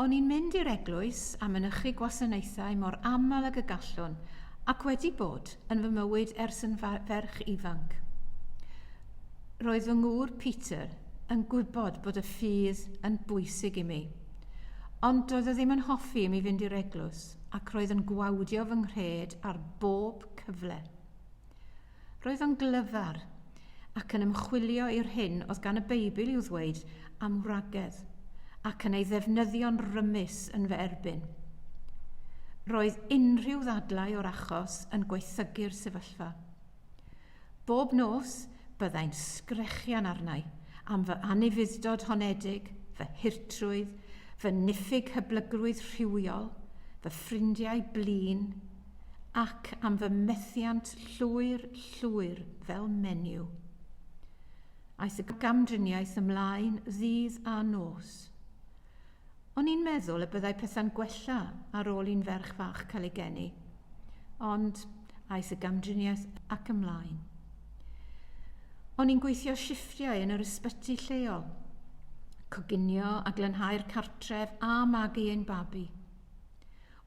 O'n i'n mynd i'r eglwys a mynychu gwasanaethau mor aml ag y gallwn ac wedi bod yn fy mywyd ers yn ferch ifanc. Roedd fy ngŵr Peter yn gwybod bod y ffydd yn bwysig i mi. Ond doedd o ddim yn hoffi i mi fynd i'r eglwys ac roedd yn gwawdio fy nghred ar bob cyfle. Roedd o'n glyfar, ac yn ymchwilio i'r hyn oedd gan y Beibl i'w ddweud am wragedd, ac yn ei ddefnyddio'n rymus yn fy erbyn. Roedd unrhyw ddadlau o'r achos yn gwaethygu'r sefyllfa. Bob nos, byddai'n sgrechian arnai am fy anufudd-dod honedig, fy hurtrwydd, fy niffyg hyblygrwydd rhywiol, fy ffrindiau blin, ac am fy methiant llwyr, llwyr fel menyw. Aeth y gamdriniaeth ymlaen ddydd a nos. O'n i'n meddwl y byddai pethau'n gwella ar ôl i'n ferch fach cael ei geni, ond aeth y gamdriniaeth ac ymlaen. O'n i'n gweithio shifftiau yn yr ysbyty lleol, coginio a glanhau'r cartref a magu ein babi.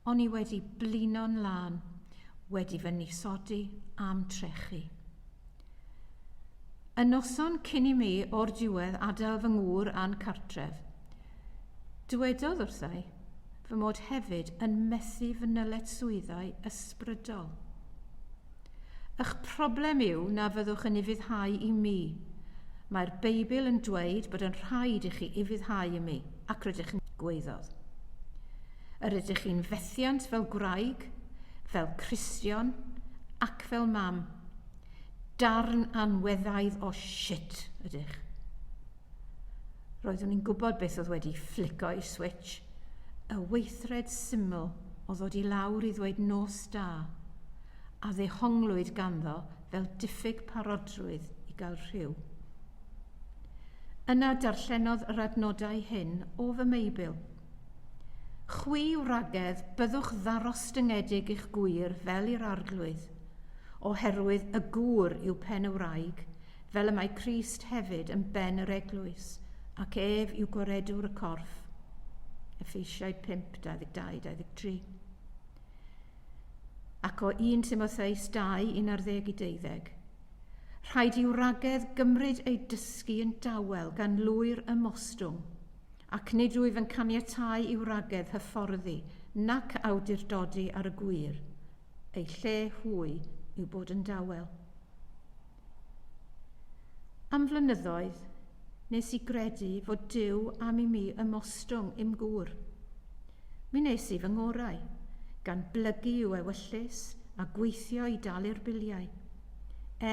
O'n i wedi blino'n lân, wedi fy nisodi a'm trechu. Y noson cyn i mi o'r diwedd adael fy ngŵr a'n cartref, dywedodd wrthai fy mod hefyd yn methu fy nylet swyddau ysbrydol. Ych problem yw na fyddwch yn ufuddhau i mi. Mae'r Beibl yn dweud bod yn rhaid i chi ufuddhau i mi, ac rydych yn, gwaeddodd. Yr ydych chi'n fethiant fel gwraig, fel Cristion, ac fel mam. Darn anweddaidd o shit ydych. Roeddwn i'n gwybod beth oedd wedi fflico i'r switch, y weithred syml o ddod i lawr i ddweud nos da, a ddehonglwyd ganddo fel diffyg parodrwydd i gael rhyw. Yna darllenodd yr adnodau hyn o fy Meibl. Chwi wragedd, byddwch ddarostyngedig i'ch gwŷr fel i'r arglwydd, oherwydd y gŵr yw pen y wraig, fel y mae Crist hefyd yn ben yr eglwys, ac ef yw goredwr y corff. Effeisiau 5, 22, 23. Ac o 1 Timotheus 2, 11 i 12. Rhaid i wragedd gymryd ei dysgu yn dawel gan lwyr ymostwng, ac nid wyf yn caniatau i wragedd hyfforddi nac awdurdodi ar y gwir, ei lle hwy yw bod yn dawel. Am flynyddoedd, nes i gredu fod Duw am i mi ymostwng i'm gŵr. Mi nes i fy ngorau, gan blygu i'w ewyllys a gweithio i dalu'r biliau,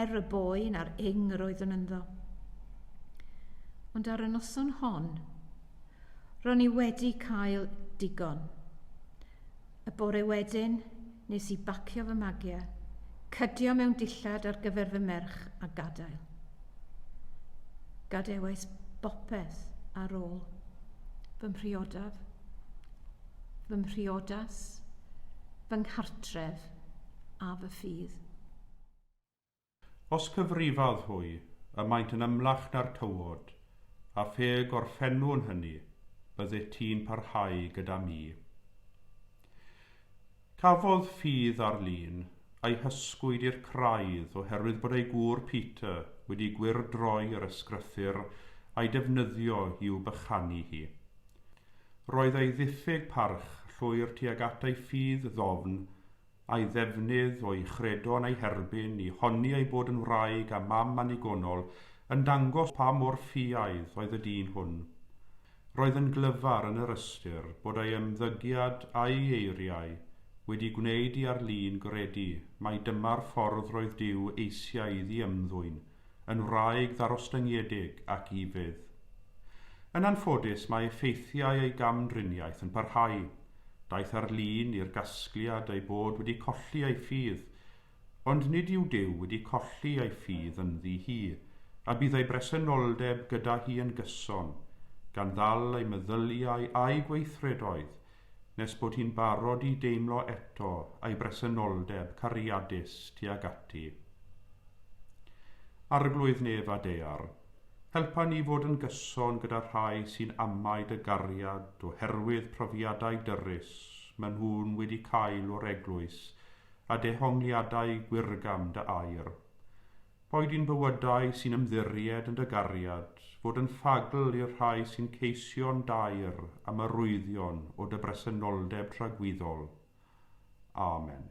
er y boen a'r ing yr oeddwn ynddo. Ond ar y noson hon, ro'n i wedi cael digon. Y bore wedyn, nes i bacio fy magiau, cydio mewn dillad ar gyfer fy merch a gadael. Gadewais bopeth ar ôl. Fy mhriodaf, fy mhriodas, fy nghartref a fy ffydd. Os cyfrifodd hwy, y maent yn ymlach na'r tywod, a phe gorffennwn hynny, byddet ti'n parhau gyda mi. Cafodd ffydd Arlene ei hysgwyd i'r craidd oherwydd bod ei gŵr Peter wedi gwyrdroi yr ysgrythur a'i defnyddio i'w bychanu hi. Roedd ei ddiffyg parch llwyr tuag at ei ffydd ddofn a'i ddefnydd o'i chredo yn ei herbyn i honni ei bod yn wraig a mam annigonol yn dangos pa mor ffiaidd oedd y dyn hwn. Roedd yn glyfar yn yr ystyr bod ei ymddygiad a'i eiriau wedi gwneud i Arlene gredu mai dyma'r ffordd roedd Duw eisiau iddi ymddwyn yn wraig ddarostyngedig ac ifydd. Yn anffodus, mae effeithiau ei gamdriniaeth yn parhau. Daeth ar lun i'r gasgliad ei bod wedi colli ei ffydd, ond nid yw Duw wedi colli ei ffydd ynddi hi, a bydd ei bresenoldeb gyda hi yn gyson, gan ddal ei meddyliau a'i gweithredoedd nes bod hi'n barod i deimlo eto ei bresenoldeb cariadus tuag ati. Arglwydd nef a dear, helpa ni fod yn gyson gyda rhai sy'n amau dy gariad oherwydd profiadau dyrys maen nhw'n wedi cael o'r Eglwys a dehongliadau gwyrgam dy air. Boed yn bywydau sy'n ymddiried yn dy gariad, fod yn ffagl i'r rhai sy'n ceisio'n daer am y rwyddion o dy bresenoldeb tragwyddol. Amen.